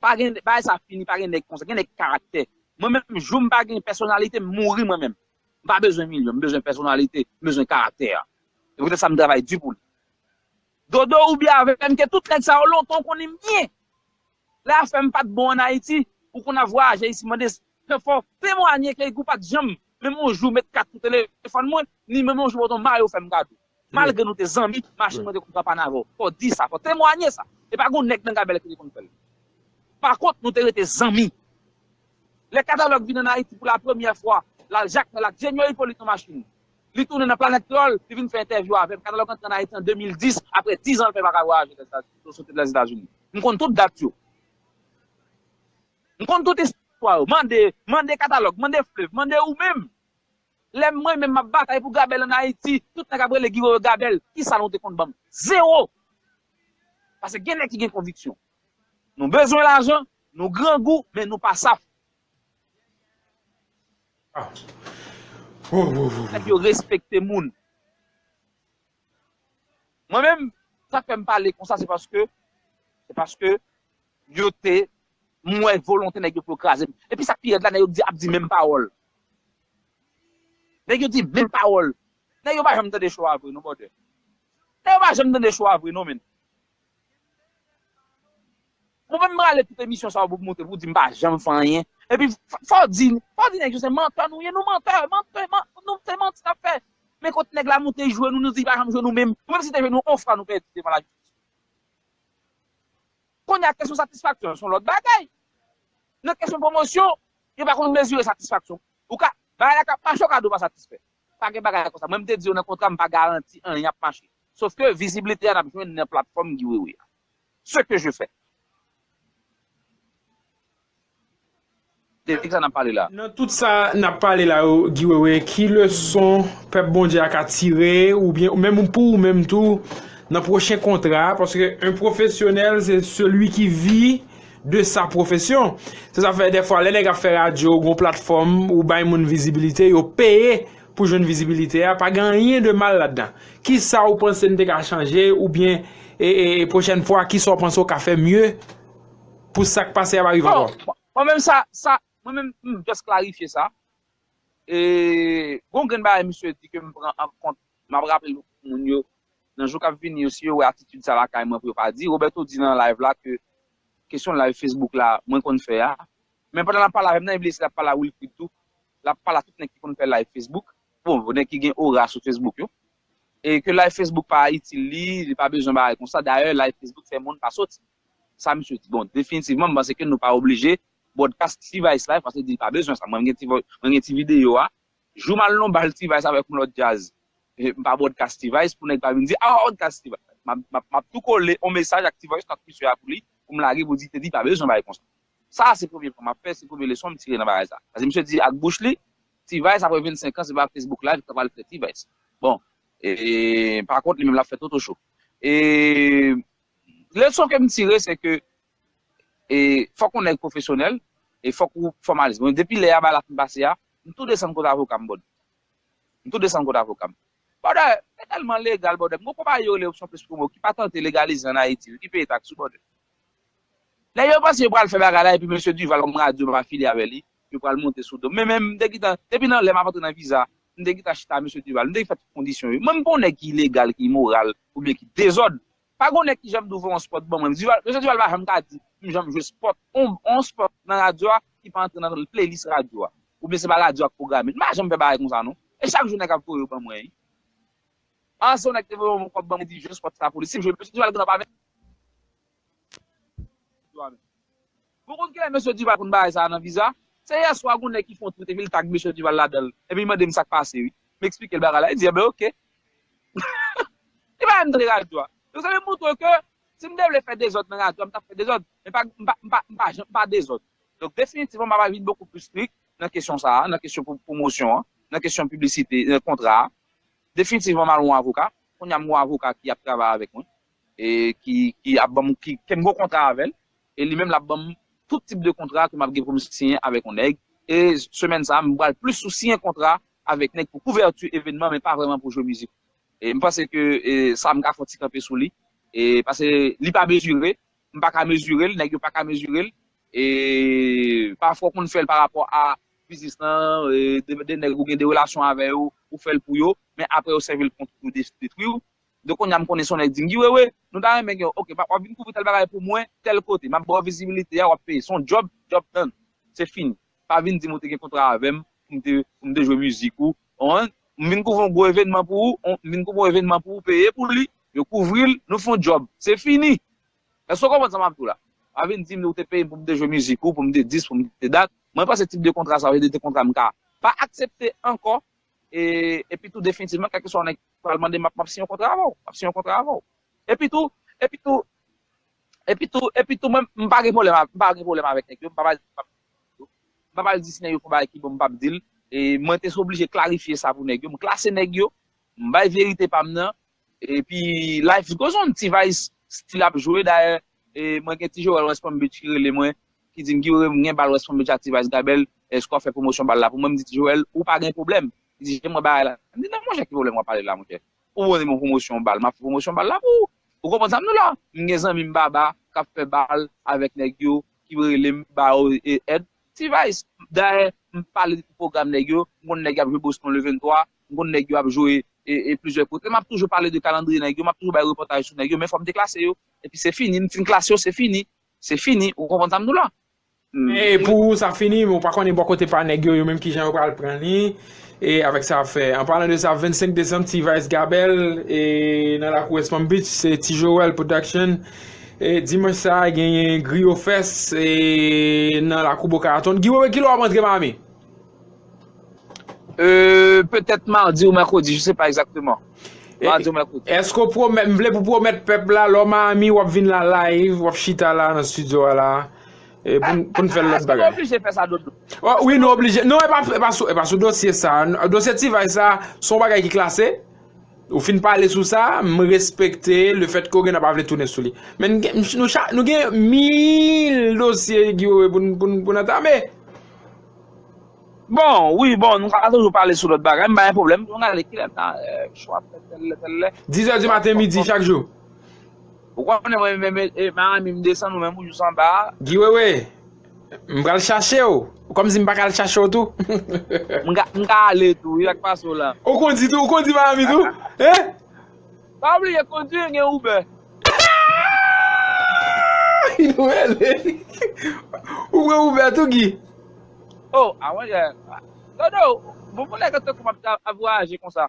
Pa gen, bagay sa fini, pa gen nèg konsa, gen nèg ki karaktè. Mwen menm jou m pa gen pèsonalite m mouri mwen menm. M pa bezwen milyon, m bezwen pèsonalite, m bezwen karaktè a. Se poutèt sa m travay di pou li. Dodo ou byen avèm ke tout nèg sa yo lontan ou konnen m byen lè afèm pat bon an Ayiti ou konn ap vwayaje isi mande se fò temwanye ke ou pat janm menm yon jou met kat sou telefòn mwen ni menm yon jou bòdon mayo fèm kado malgre nou te zanmi machin mwen te konn pran pann avè w fò di sa fò temwanye sa e pa gon nèg nan gabèl ki te konn fèl pa kont nou te rete zanmi lè katalòg vin an Ayiti pou la premyè fwa lal jakmèl ak jenyo ipolit nan machin Li tounen nan Planèt Tròl, li vin fè entèvyou avè m. Katalòg antre ann Ayiti an 2010, apre dizan l fè l pa ka vwayaje lè soti Lèzetazini. M konn tout dat yo. M konn tout istwa yo. Mande, mande Katalòg, mande Flev, mande ou menm. Lè mwen menm m ap batay pou Gabèl ann Ayiti, tout nèg ap rele Giwo yo Gabèl. Ki sa nou te konn ban m? Zewo! Pase gen nèg ki gen konviksyon. Nou bezwen lajan, nou grangou, men nou pa saf. Nèg yo respekte moun. Mwen menm sak fèm pale konsa se paske se paske yo te m wè volonte nèg yo pou yo krazem. Epi sak pi rèd la nèg yo ap di menm pawòl. Nèg yo di menm pawòl. Nèg yo pa janm tande cho a vre non brother. Nèg yo pa janm tande cho a vre non menn. Mwen menm m rale tout emisyon sa yo pou montre pou di m pa janm fè anyen epi fò w di fò w di nèg yo se mantè nou ye nou mantè mantè nou se manti n ap fè men kot nèg la moute jwe nou nou di li pa janm jwe nou menm nou menm si te jwe nou on fwa nou pèdi devan lajistis kounye a kesyon satisfaksyon s on lòt bagay nan kesyon pwomosyon yo pa konn mezire satisfaksyon ou ka bagay la k ap mache ou ka di ou pa satisfè pa gen bagay konsa mwen m te di yo nan kontra m pa garanti anyen ap mache sofke viziblite a n ap jwenn nan platfòm Guy Wewe a. Ce que je fais. De kisa nap pale la? Nan tout sa nap pale la yo Guy Wewe ki leson pèp Bondye a ka tire oubyen menm ou pou ou menm tou nan pwochen kontra a paske un professionnel se celui qui vit de sa profession se sa fè dèfwa lè nèg ap fè radyo gon platfòm ou bay moun vizibilite yo peye Pou jwenn vizibilite a, pa gen anyen de mal ladan. Kisa ou panse n te ka chanje oubyen pwochèn fwa kisa ou panse ou ka fè mye pou sa k pase a pa rive ankò? Bon, mwen menm sa, sa, mwen menm m just klarifye sa. E gon grenn bagay misye di ke m pran an kont, m ap raple l pou moun yo nan jou k ap vini yo si yo wè atitid sa lakay mwen pou yo pa di. Roberto di nan live la ke kesyon live Facebook la mwen konn fè a. Men pandan l ap pale avè m nan eble se l ap pale a Wilfrid tou, Lap pale a tout nèg ki konn fè live Facebook, bon nèg ki gen ora sou Facebook yo. E ke live Facebook pa itil li, li pa bezwen bagay konsa, dayè live Facebook fè moun pa soti. Sa misye di. Bon, definitivman m panse ke nou pa oblije broadcast T-vice live paske li di li pa bezwen sa. Mwen m gen ti videyo a. Jou m al nan yon bal T-vice avèk yon lòt djaz, m pa broadcast T-vice pou nèg pa vin di a ou broadcast T-vice. Map tou kole yon mesaj ak T-voice nan Twitter a pou li, pou m lage pou li di te di pa bezwen bagay konsa. Sa a se premye pwen m ap fè, se premye leson m tire nan bagay sa a. Paske misye di ak bouch li, T-Vice apre 25 an se pa Facebook Live k ap al fè T-Vice. Bon, e pa kont li menm l ap fè Toto Show. E leson ke m tire se ke e fòk yon nèg pwofesyonèl e fòk ou fòmalis. Bon, depi lè a bagay la fin pase a, m tou desann kot avoka m bròd. M tou desann kot avoka m. Bròdè, se tèlman legal bròdè. M gen yon konpayi yo rele Option Plus Promo ki pa tante legalize an Ayiti, ki peye taks wi bròdè. Lè yo panse yo pral fè bagay la epi mesye Duval kòm radyo m ap afilye avè li, yo pral monte sou do m. Men men m te gentan, depi nan lè m ap antre nan viza, m te gentan chita a mesye Duval. M te fè tout kondisyon yo. Mwen m pa yon nèg ki ilegal, ki imoral oubyen ki dezòd. Pa gen yon nèg ki janm di ouvè yon spòt ban mwen. Duval, mesye Duval pa janm ka di m janm jwe spòt, yon yon spòt nan radyo a ki pa antre nan playlist radyo a. Oubyen se pa radyo a k pwograme l. M pa janm fè bagay konsa non. E chak jou nèg ap voye yo ban mwen. Ah se yon nèg te voye yon kòb banm li di jès wap sa police msye mesye Duval konn ap avèk yo avèl bon konn kilè mesye Duval konn bagay sa nan viza se yèswa gon nèg ki fon twit epi li tag mesye Duval ladanl epi li mandem sak pase wi m eksplikel bagay la li di enben ok li pa vle m tande radyo a donk sa vle moutre ke si m te vle fè dezòd nan radyo a m tap fè dezòd men pa m pa janm m pa dezòd donk definitivman m ava vin bokou plis strik nan kesyon sa nan kesyon pwomosyon an nan kesyon piblisite kontra a. Definitivman mal yon avoka, kounye a m gen yon avoka ki ap travay avèk mwen e ki ki ap banm ki ke m gen yon kontra avèl e li menm lap banm tout tip de kontra ke map gen pou m siyen avèk yon nèg e semèn sa m pral plis sou siyen kontra avèk nèg pou kouvèti evènman men pa vrèman pou jwe mizik e m panse ke sa m ka fè yon ti kanpe sou li e pase li pa mezire m pa ka mezire l, nèg yo pa ka mezire l, e pafwa ou konn fè l pa rapò a biznis lan, de nèg ou gen de relasyon avè yo, ou fè l pou yo, men aprè yo sèvi l kont ou, yo detwi ou. Donk kounya m konnen se yon nèg dingiwewe, nou ta renmen gen yon, ok, wap vin kouvri tèl bagay pou mwen, tèl kote, map ba w vizibilite a, wap peye, se yon djòb, djòb done, se fini. Pa vin di m ou te gen kontra avè m, pou m te jwe mizik ou, One, M vin kouvri yon gwo evenman pou ou. One, M vin kouvri yon evenman pou ou peye pou li. Yo kouvri l, nou fè yon djòb. Se fini. Èske w konprann sa m ap di w la? Pa vin di m ou te peye m pou m te jwe mizik ou, pou m te dis, pou m te dat. Mwen panse tip de kontra sa yo se de te kontra m ka pa aksepte ankò. E, epi tou definitivman, kèlkeswa yon nèg pral mande m, m ap siyen yon kontra avè w. M ap siyen yon kontra avè w. Epi tou, epi tou, epi tou, epi tou mwen, m pa gen pwoblèm, m pa gen pwoblèm avèk nèg yo, m pa pral di m p ap. Mpa pral di si nèg yo fon bagay ki bon mpap dil e mwen te oblije klarifye sa pou nèg yo, mklase nèg yo, mbay verite pam nan epi life goes on T-vice still ap jwe dayè mwen gen ti jorèl west palm beach ki rele mwen ki dim Guy Wewe mgen bal west palm beach ak T-vice Gabel èske wap fè pwomosyon bal la pou mwen mdi ti jorèl ou pa gen pwoblèm li di jan mwen wè bagay la mdi nan monchè ki pwoblèm wap pale la monchè Ou pwopoze m yon pwomosyon bal, m ap fè pwomosyon bal la pou ou. Ou konprann sa m di w la? M gen zanmi m Baba k ap fè bal avèk nèg yo ki rele m ba yo èd. T-Vice, dayè m pale de tout pwogram nèg yo, m konn nèg y ap jwe Boston le 23, m konn nèg yo ap jwe plizyè kote. M ap toujou pale de kalandriye nèg yo, m ap toujou bay repòtaj sou nèg yo men fò m deklase yo. Epi se fini, m fin klase yo se fini. Se fini, ou konprann sa m di w la? E pou ou sa fini, men ou pa konnen bò kote pa nèg yo, yo menm kijan yo pral pran li, e avèk sa ap fè. An palan de sa, 25 desanm T-Vice Gabel e nan lakou West Palm Beach, se Ti Joel Production, e dimanch sa a genyen Griyo Fest e nan lakou Boca Raton. Guy Wewe kilè wap antre Miami? Euh petèt mardi ou mèkredi je se pa egzakteman Mardi ou mèkredi. Eske ou pwomèt, m vle pou pwomèt pèp la lè w Miami wap vin la live, wap chita la nan studio a la pou n fè lòt bagay. Eske nou oblije fè sa Dodo? Wi nou oblije, non e pa sou dosye sa, dosye T-vice sa son bagay ki klase, ou fin pale sou sa, m respekte le fèt ke w gen nan pa vle tounen sou li. Men nou gen mil dosye pou n antame. Bon, wi, bon, nou ka toujou pale sou lòt bagay, m pa gen pwoblèm. Pou nou gade ki lè nan chou ap fèt, tèl lè, tèl lè. Dizè di maten, midi, chak jou. Ou konnen mwen menm e Marami m desann ou menm ou jous anba a. Guy Wewe, m pral chache w. Ou kòm si m pa ka al chache w tou. M ka ale tou wi, sa k pase w la? Ou kondi tou, ou kondi Marami tou? Hein? Pa bliye kondwi gen uber. Ou pran uber tou Guy? Oh a mwen jè. Dodo, bon pou nèg tankou m ap ta ap vwayaje konsa.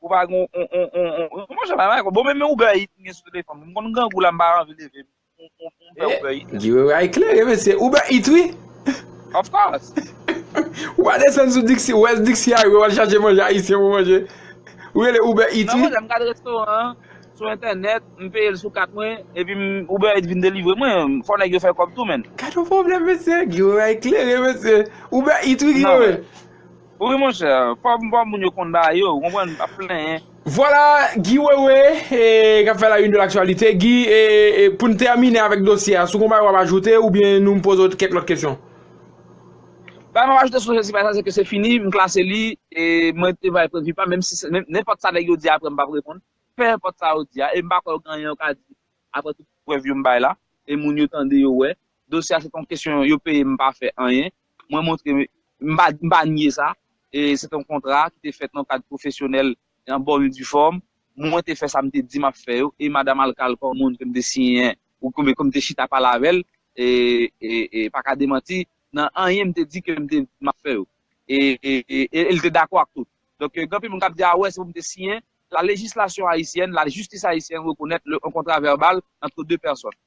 Ou pa gen yon yon yon yon. Kòman jan bagay la? Bon menm uber eat m gen sou telefòn m. M konn grangou la m pa anvi leve m. Guy a eklere mesye. Uber Eats wi. Of course. Ou pa desann sou Dixie, ou es Dixie a ou al chache manje ayisyen pou manje. Ou rele Uber Eats wi. Non mwen m gade restoran an sou entènèt, m peye l sou kat mwen epi Uber Eats vin delivre mwen. Fò nèg yo fè kòb tou menn. Gad yon pwoblèm mesye. Guy a eklere mesye. Uber Eats wi Guy. Wi monchè, kòb bon moun yo konn ba yo, ou konprann, pa plenyen. Vwala Guy Wewe kap fè la une de l'actualité. Guy, poun tèmine avèk dosye a, si w gen yon bagay wap ajoute oubyen nou poze w kèk lòt kesyon? Bagay map ajoute sou dosye sa se ke se fini, m klase li, mwen te bay pwennvi pa m, menm si nenpòt sa nèg yo di aprè m pap reponn, penenpòt sa yo di a, e m pa kwè gen anyen yo ka di aprè tout prèv yo m bay la, e moun yo tande yo wè, dosye a se te yon kesyon yo peye m pa fè anyen, mwen montre m pa nye sa, e se te yon kontra ki te fèt nan kad pwofesyonèl e an bonn e di fòm, mwen te fè sa m te di m ap fè yo, e Madam Alkal kòm moun ke m te siyen ou ke m te chita pale avè l e pa ka demanti nan anyen m te di ke m te m ap fè yo, e l te dakò ak tout. Donk gen anpil moun k ap di a wè se pou m te siyen, la lejislasyon ayisyèn, la jistis ayisyèn rekonèt yon kontra vèbal antre 2 pèsòn.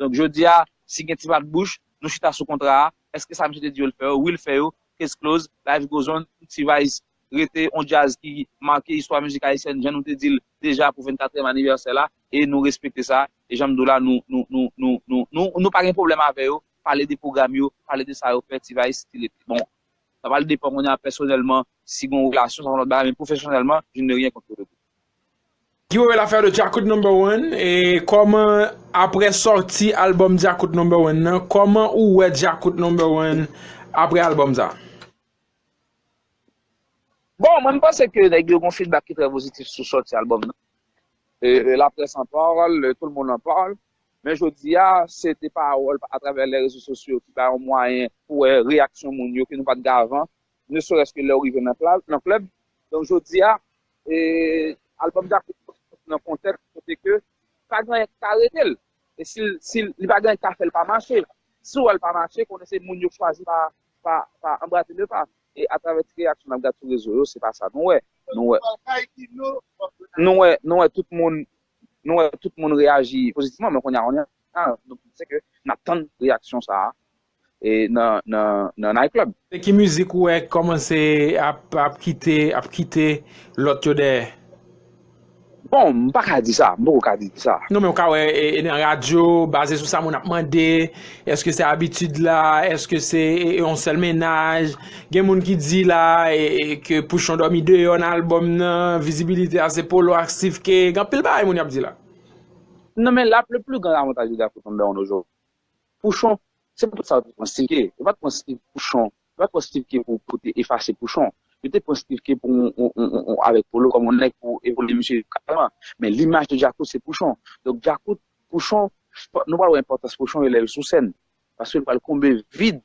Donk jodi a, si gen ti bat bouch, nou chita sou kontra a, eske sa misye te di yo l fè yo, wi l fè yo, case close, life goes on, T-vice rete on djaz ki make istwa mizik ayisyèn jan nou te di l deja pou 24 èm anivèsè la, e nou respekte sa, e jan m di w la nou nou nou nou nou nou nou pa gen pwoblèm avè yo, pale de pwogram yo, pale de sa yo fè, T-vice still ete bon. Sa pral depan kounye a pèsonèlman si gen yon relasyon sa son lòt bagay men pwofesyonèlman je n'ai rien contre le groupe. Yo el afè de Djakout number one e kòman aprè sòti album Djakout number one nan kòman ou wè Djakout number one aprè album sa? Bon mwen m panse ke nèg yo gon feedback ki trè pozitif sou sòti album nan e la presse en parle, tout le monde en parle men jodi a se de pawòl atravè lè rezo sosyo ki ba yon mwayen pou wè reyaksyon moun yo ke nou pat gen avan ne serès ke lèw rive nan klèb. Donk jodi a, albòm Djakout fòk li soti nan kontèks kote ke li pa gen anyen ki ka aretel. E si li pa gen anyen ki ka fèl pa mache. Si ou wèl pa mache, konnen se moun yo chwazi pa anbrase le pa. E atravè ti reyaksyon nap gad sou rezo yo, se pa sa nou wè. Nou wè tout moun, nou wè tout moun reyaji pozitifman, men kounye a, se ke nap tann reyaksyon sa a. nan night club. Se ki mizik ou wè ki kòmanse ap kite ap kite lòt yo dèyè? Bon, m pa ka di sa, m poko ka di sa. Non men ou ka wè nan radyo, baze sou sa moun ap mande, èske se abitid la, èske se yon sèl mennaj, gen moun ki di la ke Pouchon dòmi deyò nan albòm nan, vizibilite a se Polo ak Steve Kay, gen anpil bagay moun ap di la. Non men la le plus grand avantage de Garçon Sound Down aujourd'hui Pouchon, se pa tout sa yo te pran Stivke. Yo pa t pran Stiv Pouchon, yo pa t pran Stivke pou pou te efase Pouchon. Yo te pran Stivke pou yon yon yon yon avèk Polo kòm yon nèg pou epole misye kareman. Men limaj de Djakout se Pouchon. Donk Djakout, Pouchon, nou pral wè enpòtans Pouchon yo lè yo sou sèn. Paske l pral konbe vid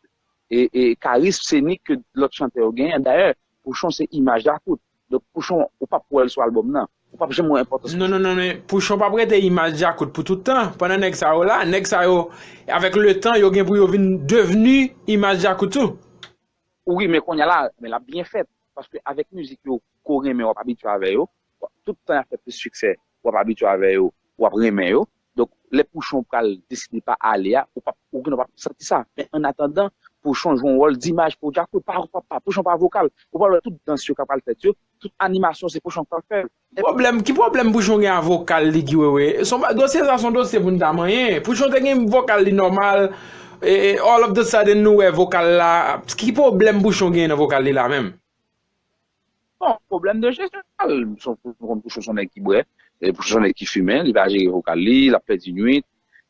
e e karism senik ke lòt chantè yo genyen. Dayè, Pouchon se imaj Djakout. Donk pouchon ou pap wèl sou album nan? Ou pap janm wè enpòtans pouchon? Non non non pouchon pap rete imaj djakout pou tout tan pandan nèg sa yo la nèg sa yo avèk letan yo gen pou yo vin devni imaj djakout tou. Wi men konnya la men lap byen fèt paske avèk mizik yo ke w renmen wap abitye avè yo tout tan yap fè plis siksè wap abitye avè yo wap renmen yo Donk lè Pouchon pral deside pa ale a, ou pap ou gen dwa pap santi sa. Men an atandan, Pouchon jwe yon wòl dimaj pou Jacko. Pa pa pa, Pouchon pa vokal. Ou pral wè tout dans yo k apral fèt yo, tout animasyon se Pouchon k pral fè l. Ki pwoblèm, ki pwoblèm Pouchon gen a vokal li Guy Wewe? Son ba, dosye sa son dosye pou n ta manyen. Pouchon te gen vokal li nòmal, e all of the sudden nou wè vokal la, ki pwoblèm Pouchon gen nan vokal li la menm? Bon, problèm de jesyon vokal. Son problèm pou son nèg ki bwè, pou son nèg ki fimen, li pa jere vokal li, l ap pèdi nwit.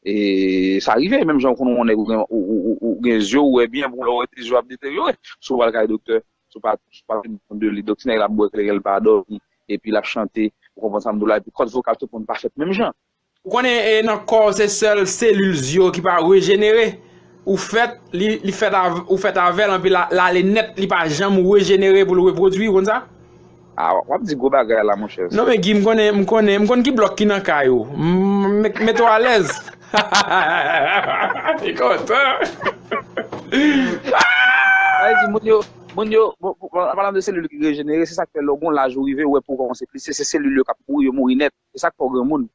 E sa rive, menm jan ou konnen yon nèg ou gen zye ou wè byen, bon lè ou wè zye ou ap deteryore, si ou pral kay doktè, si ou pa pran swen de li, donk ti nèg la ap bwè kleren, l pa dòmi, epi l ap chante, ou konprann sa m di w la, epi kòd vokal tout moun pa fèt menm jan. Ou konnen nan kò w se sèl selil zye w ki pa rejenere, ou fèt, li fèt avè, ou fèt avè l anpi lale nèt li pa janm rejenere pou l repwodui, ou konn sa? A, w ap di gwo bagay la monchè. Non men Guy, m konnen, m konnen, m konn ki blòk ki nan kay ou. Mete w alèz. Li kontan. Sa vle di moun yo, moun yo, an palan de selil ki rejenere, se sa k fè lè w gen yon laj ou rive, ou wè po w kòmanse plise, se selil yo k ap mouri, yo mouri nèt. Se sak fè w granmoun.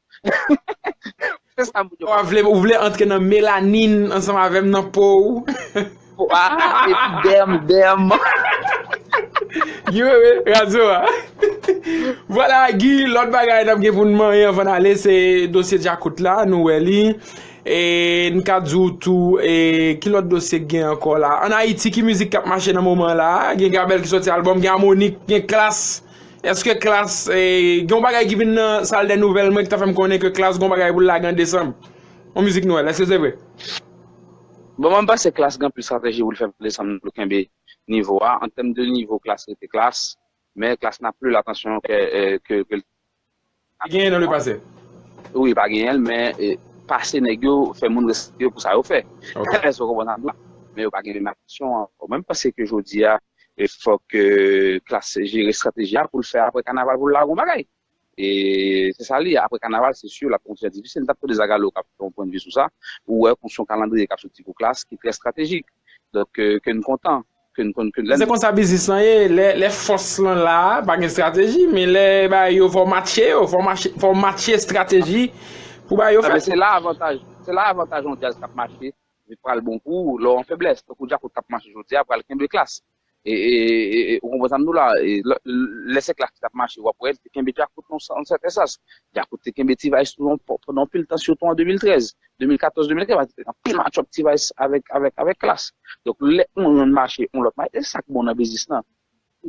Se sa moun yo pa konprann. Ou vle antre nan melanin ansanm avè m nan po ou. Po a e pi dèm dèm. Guy Wewe, radyo a. Vwala Guy, lòt bagay n ap gen pou n manyen anvan n ale se dosye Djakout la, nou wè li. E n ka di w tou e ki lòt dosye k gen ankò la. An Ayiti ki mizik k ap mache nan moman la? Gen Gabèl ki sòti albòm, gen Amonik, gen Klass. Eske klass gen yon bagay ki vin nan sal dè nouvèl mwen ki ta fèm konnen ke klass gen yon bagay pou l lage an desanm? Yon mizik nwèl, eske se vre? Bon mwen panse klass gen anpil strateji pou l fè pou desanm nan pou l kenbe nivo a, an tèm de nivo klass rete klass, men klass nan plu l atansyon ke l Pa genyen nan le pase. Wi pa genyen l men pase nèg yo fè moun respekte yo pou sa yo fè. Èske w konprann sa m di w la? Men yo pa gen menm aksyon ankò. Mwen panse ke jodi a fòk klass jere estrateji a pou l fè aprè kanaval pou l lage yon bagay. E se sa li ye aprè kanaval se si la pou kontinye ap difisil. M t ap tande Zagalo k ap fè yon pwennvi sou sa. Ou wè konsi yon kalandriye k ap soti pou klass ki trè estratejik. Donk ke n kontan. ke n konn ke n renmen. Se konsa biznis lan ye, lè fòs lan la, pa gen estrateji, men lè bagay yo fò w matche yo, fò w matche estrateji pou bagay yo fèt. Se la avantaj, se la avantaj yon djaz k ap mache vin pral bon pou ou lè w an feblès. Tankou djakout k ap mache jodi a pral kenbe klass. Ou konprann sa m di w la? Lè se klass ki t ap mache w ap wè l te kenbe djakout nan yon sèten sans. Djakout te kenbe T-vice tou pandan anpil tan sitou an 2013. 2014 2015 pa te gen anpil match up ti vice avèk avèk avèk klass donk lè yon yon mache yon lòt mache e sak bon nan biznis lan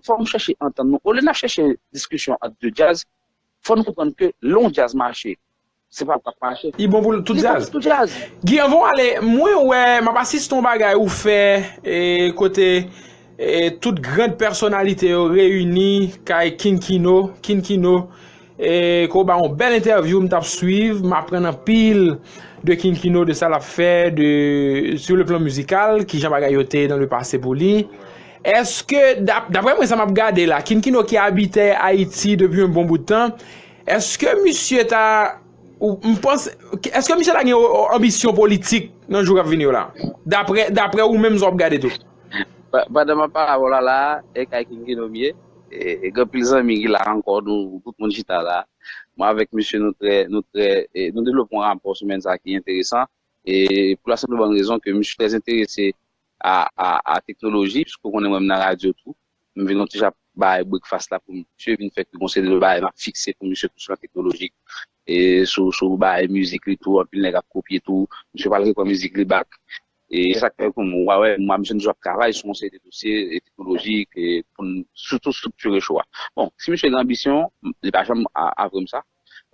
fò nou chèche antann nou olye nap chèche diskisyon ant 2 djaz fò nou konprann ke lè yon djaz mache se pa pou mache Li bon pou tout jazz. tout djaz. Guy anvan w ale mwen wè map asiste yon bagay ou fè e kote e tout grand pèsonalite yo reyini kay King Kino, Kin Kino. Kò ba yon bèl entèvyou m tap swiv m aprann anpil de King Kino de sa lap fè de sou le plan mizikal kijan bagay yo te nan le pase pou li eske daprè mwen sa map gade la King Kino ki abitè Ayiti depi yon bon bout tan eske misye ta m panse eske misye ta gen yon anbisyon politik nan jou kap vini yo la daprè ou menm sa wap gade tou. Pandan map pale avè w la la e kay King Kino m ye. E gen pil zanmi ki la ankò nou tout moun chita la. Mwen avèk misye nou trè nou trè nou devlope yon rapò semèn sa ki enteresan e pou la senp e bòn rezon ke misye trè enterese a a a teknoloji pske ou konnen mwen m nan radyo tou. M vin yon ti jan ap bay brekfas la pou misye vin fè tout yon seri de bagay map fikse pou misye tou sou la teknoloji e sou sou bagay mizik li tou anpil nèg ap kopye tou. Misye pral repran mizik li back E sa k fè ke m wè mwa misye m toujou ap travay sou yon seri de dosye teknolojik pou n sitou striktire show a. Bon, si misye gen anbisyon, li pa janm avwe m sa,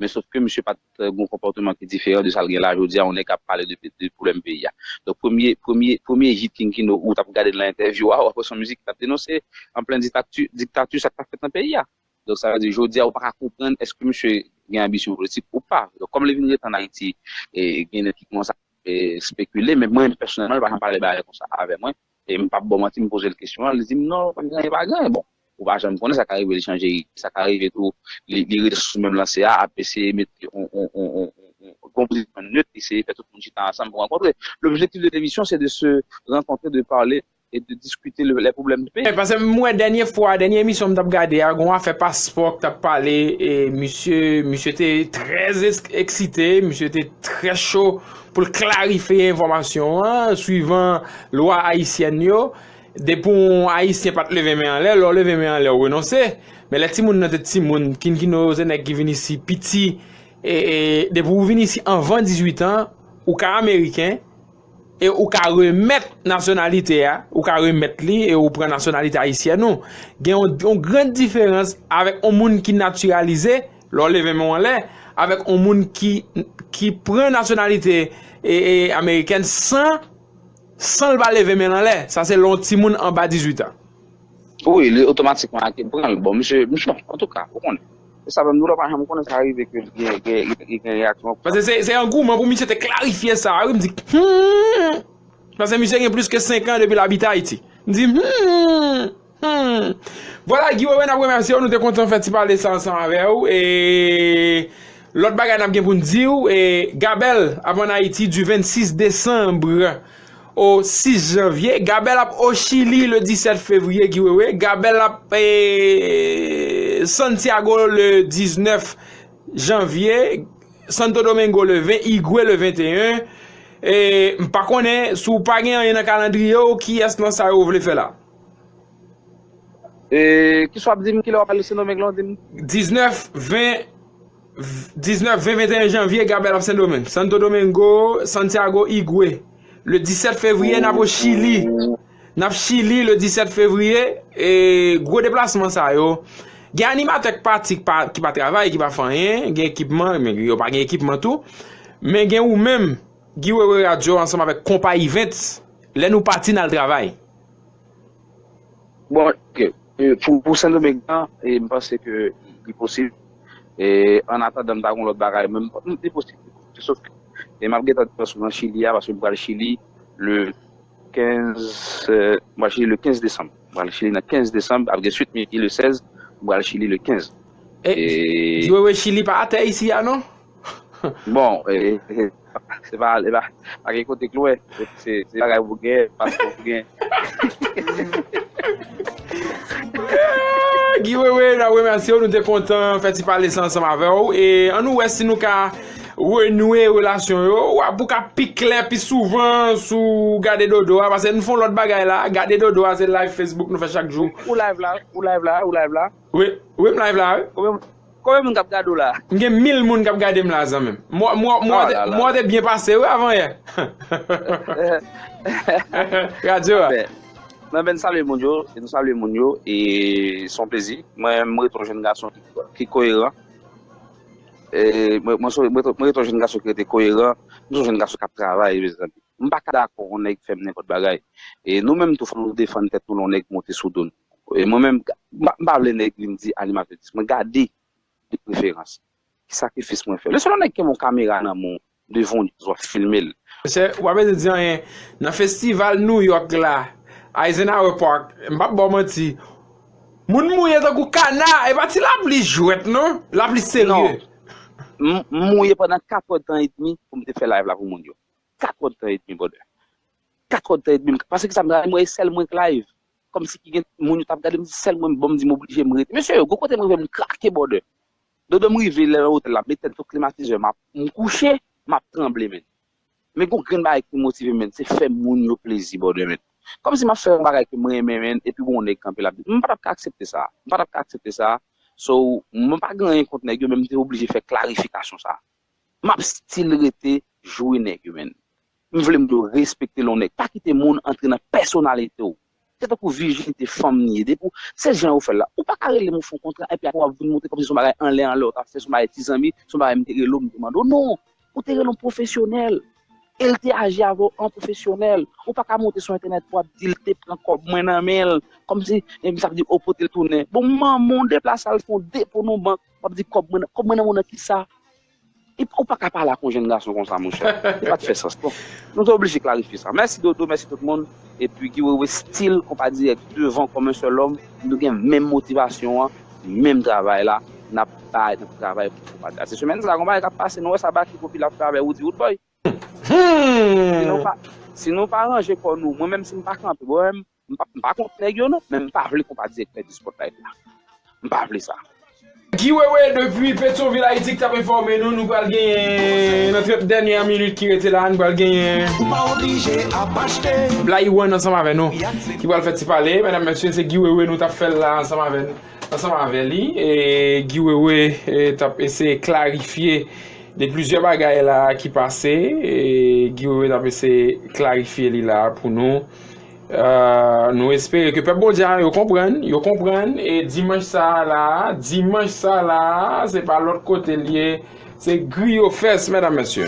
men sof ke misye pa t gen yon konpòteman ki diferan de sa l gen la jodi a, yon nèg k ap pale de pwoblèm peyi a. Donk premye, premye, premye hit King Kino ou t ap gade nan entèvyou a, ou ap wè se yon mizik ki t ap denonse an plen diktakti, diktakti sa k t ap fèt nan peyi a. Donk sa vle di jodi a ou pa ka konprann èske misye gen anbisyon politik ou pa. Donk kòm li vin rete ann Ayiti, gen nèg ki kòmanse ap. spekile men mwen pèsonèlman li pa janm pale bagay konsa avè mwen e m pap baw manti m poze l kesyon an li di m non pa gen anyen pa gen anyen bon ou pa janm konnen sa ka rive li chanje ide sa ka rive tou li rete sou menm lanse a ap eseye mete yon konpozisyon nèt eseye fè tout moun chita ansanm pou rankontre l'objectif de l'émission c'est de se rencontrer de parler et de discuter le les problèmes du pays. Pase m wè dènye fwa, dènye emisyon m t ap gade a, gon afè paspò k t ap pale e misye, misye te trè eksite, misye te trè cho pou l klarifye enfòmasyon an, swivan lwa ayisyèn yo, depi w ayisyen pa t leve men anlè, lè w leve men anlè w renonse, men lè timoun nan te timoun, kinkino yo se nèg ki vin isi piti, e depi w vin isi anvan 18 an, ou ka ameriken. E ou ka remèt nasyonalite a, ou ka remèt li e ou pran nasyonalite ayisyèn ou. Gen yon gran diferans avèk yon moun ki natiralize, lè w leve men w anlè, avèk yon moun ki pran nasyonalite amerikèn san, san l pa leve men l anlè. Sa se lè yon timoun anba 18 an. Wi, li otomatikman ak yo pran l. Bon, misye, misye, antouka, ou konnen. Se sa menm, nou la pa janm konnen sa rive ke li gen reyaksyon konsa. Paske se angouman pou misye te klarifye sa wi, m di humm, paske misye gen plis ke 5 an depi l abite Ayiti. M di humm, humm. Vwala Guy Wewe n ap remèsye w, nou te kontan fè ti pale sa ansanm avè w e lòt bagay n ap gen pou n di w e Gabel ap an Ayiti di 26 desanbre. O 6 janvye, Gabèl ap o Chili le 17 fevriye ki wewe, Gabèl ap e Santiago le 19 janvye, Santo Domingo le 20, Higüey le 21, e m pa konnen si w pa gen anyen nan kalandriye w kiyès nan sa yo w vle fè la? E kiswa ap di m kilè w ap ale Sendomeng la w di m? 19, 20. 19, 20, 21 janvye, Gabèl ap Sendomeng, Santo Domingo, Santiago, Igwe, Le 17 fevriye, n ap o Chili, N ap Chili, Le 17 fevriye, e gwo deplasman sa yo, gen animatè k pati ki pa travay, ki pa fè anyen, gen ekipman, men yo pa gen ekipman tou, men gen ou menm, Guy Wewe Radio ansanm avèk Konpa Events, lè nou pati n al travay. Bon, ok. Pou Sendomeng lan, m panse ke li posib. An atandan m ta gon lòt bagay, men li posib. Sof ke m ap gentan pran sou nan Chili a, paske m pral Chili le 15, m pral Chili le 15 desanm. M pral Chili nan 15 desanm, ap gen swit Mickey le 16, m pral Chili le 15. Jwe we Chili pa atè isi a non. Bon, se pa ale la, pa gen kote k lwen, se bagay pou gen, paske pou gen. Guy Wewe, n ap remèsye w, nou te kontan fè ti pale sa ansanm avè w, e an nou wè si nou ka renwe relasyon yo, w ap pou ka pi klè, pi souvan sou gade dodo a, paske nou fon lòt bagay la, gade dodo a se live Facebook nou fè chak jou. Ou live la, ou live la, ou live la? Wi, wi m live la wi. Konbyen moun kap gade w la. M gen mil moun kap gadem la zanmim. M wè w te byen pase wi avan yè. Radyo a. Mwen vin salye moun yo. M salye moun yo. E s on plezi. Mwen m ret on jenn gason ki koyeran. Mwen ret on jenn gason ki rete koyeran. M s on jenn gason kap travay mezanmi. M pa ka dakò on nèg fè m nenpòt bagay. E nou menm tou fò nou defann tèt nou lè on nèg monte sou do nou. Mwen menm, m pa vle nèg vin di animatè di sa. Mwen gade de preferans. Ki sakrifis mwen fè. Men selon nèg kenbe yon kamera nan men w devan w wap filme l. Mesye, ou pa bezwen di anyen. Nan festival New York la, Eisenhower Park, m pap ba w manti, moun mouye tankou kana, e pa ti lapli jwèt non, lapli serye. Non. M mouye pandan 4 òd tan edmi pou m te fè live la pou moun yo. 4 òd tan edmi brother. 4 òd tan edmi. Paske kisa m travay? M wè e sèl mwen k live. Kòmsi ki gen moun yo t ap gade m si sèl mwen m bon m di m oblije m rete. Mesye yo gon kote m rive m krake bòdè. Dodo m rive lè nan otèl la m met tèt sou klimatizè m ap m kouche m ap tranble menn. Men gon grenn bagay ki motive m menn se fè moun yo plezi bòdè menn. Kòmsi m ap fè yon bagay ke m renmen menn epi gon nèg kanpe l ap di m pa t ap ka aksepte sa a m pa t ap ka aksepte sa a so mwen pa gen anyen kont nèg yo men m te oblije fè klarifikasyon sa a. M ap stil rete jwe nèg yo menn. M vle moun yo respekte lonnè. Pa kite moun antre nan pèsonalite w. Se tankou vijinite fanm li ye. Depi w, se jan yo fè l la. Ou pa ka rele m ou fè yon kontra epi apre w ap vin montre kòmsi se yon bagay anlè anlè w t ap fè, se yon bagay ti zanmi, se yon bagay m te rele w m te mande w. Non! Ou te rele yon pwofesyonèl e l te aji avè w an pwofesyonèl. Ou pa ka monte sou entènèt pou w ap di l te pran kòb mwen nan men l kòmsi sa vle di ou pote l tounen. Bon manman w deplase al fè yon depo nan yon bank, w ap di kòb mwen nan men w nan kisa? Epi ou paka pale ak yon jenn gason konsa monchè. Li pat fè sans non. Nou te oblije klarifye sa. Mèsi Dodo, mèsi tout moun. Epi Guy Wewe still Konpa Dirèk devan kòm un seul homme. Nou gen menm motivasyon an, menm travay la. Nap bay, nap travay pou Konpa Dirèk. Se semèn sa a, gen yon bagay kap pase. Nou wè sa Baky Popi la ap fè avè Roody Roodboy. Si nou pa ranje kò nou, mwen menm si m pa kanpe, mwen menm M pa kont nèg yo non, men m pa vle konpa direktè di Spotlight la. M pa vle sa. Guy Wewe depi Petyonvil Ayiti ki t ap enfòme nou, nou pral genyen nan 30 dènyè minit ki rete la a, nou pral genyen. Blayi One ansanm avè nou ki pral fè ti pale. Medam mesye se Guy Wewe nou t ap fè l la ansanm avè n, ansanm avè li. Guy Wewe t ap eseye klarifye de plizyè bagay la a ki pase. Guy Wewe t ap eseye klarifye li la a pou nou. Nou espere ke pèp Bondye a yo konprann, yo konprann e dimanch sa la, dimanch sa la, se pa lòt kote liye, se griyo fès mèdam mèsye.